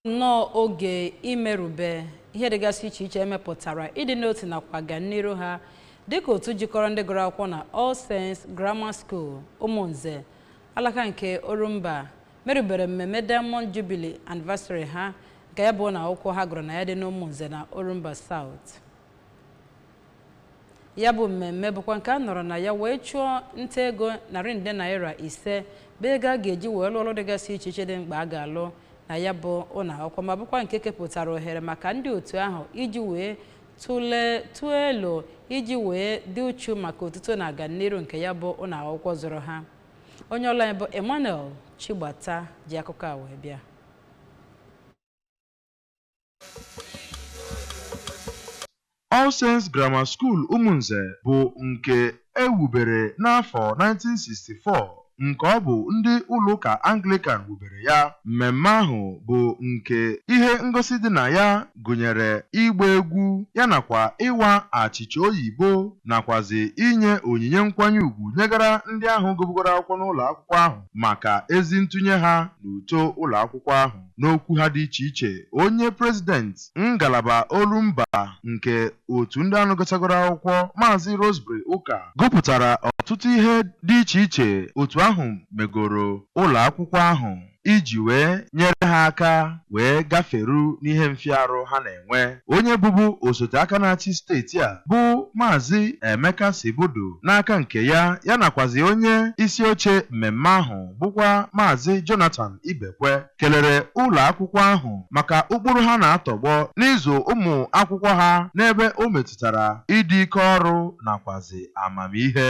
nnọọ oge imerube ihe dịgasị iche iche emepụtara ịdị n'otu nakwa ọganiru ha dịka otu jikọrọ ndị gụrụ akwụkwọ na All Saints Grammar School Ụmụnze alaka nke Orumba merubere mmemme Diamond Jubilee Anniversary ha nke ya bụ ụnọ akwụkwọ ha gụrụ na ya dị n'Ụmụnze na Orumba South ya bụ mmemme bụkwa nke a nọrọ na ya wee chụọ nta ego narị nde naira ise bụ ego a ga-eji wee lụọ ọrụ dịgasị iche iche dị mkpa a ga-alụ na ya bụ ụlọ akwụkwọ ma bụkwa nke kepụtara ohere maka ndị otu ahụ iji wee tụọ elo iji wee dị uchu maka otuto na ọganiru nke ya bụ ụlọ akwụkwọ zụrụ ha onye ọlụ anyị bụ Emmanuel Chigbata ji akụkọ a wee bịa All Saints Grammar School Umunze bụ nke e wubere n'afọ 1964 nke ọ bụ ndị ụlọụka Anglican wubere ya. Mmemme ahụ bụ nke ihe ngosi dị na ya gụnyere ịgba egwu ya nakwa ịwa achịcha oyibo nakwazi inye onyinye nkwanye ugwu nyegara ndị ahụ gụbugoro akwụkwọ n'ụlọ akwụkwọ ahụ maka ezi ntụnye ha n'uto ụlọ akwụkwọ ahụ. N'okwu ha dị iche iche, onye prezident ngalaba Orumba nke otu ndị ahụ gụchagoro akwụkwọ, Maazị Roseberry Ụka, gụpụtara ọtụtụ ihe dị iche iche otu ahụ megoro ụlọ akwụkwọ ahụ iji wee nyere ha aka wee gaferu n'ihe mfịarụ ha na-enwe. enwe. Onye bụbu osote aka na-achị steeti a bụ Maazị Emeka Sibeudu n'aka nke ya, ya nakwazị onye isi oche mmemme ahụ bụkwa Maazị Jonathan Ibekwe kelere ụlọ akwụkwọ ahụ maka ụkpụrụ ha na-atọgbọ n'ịzụ ụmụ akwụkwọ ha n'ebe o metụtara ịdị ike ọrụ nakwazị amamihe.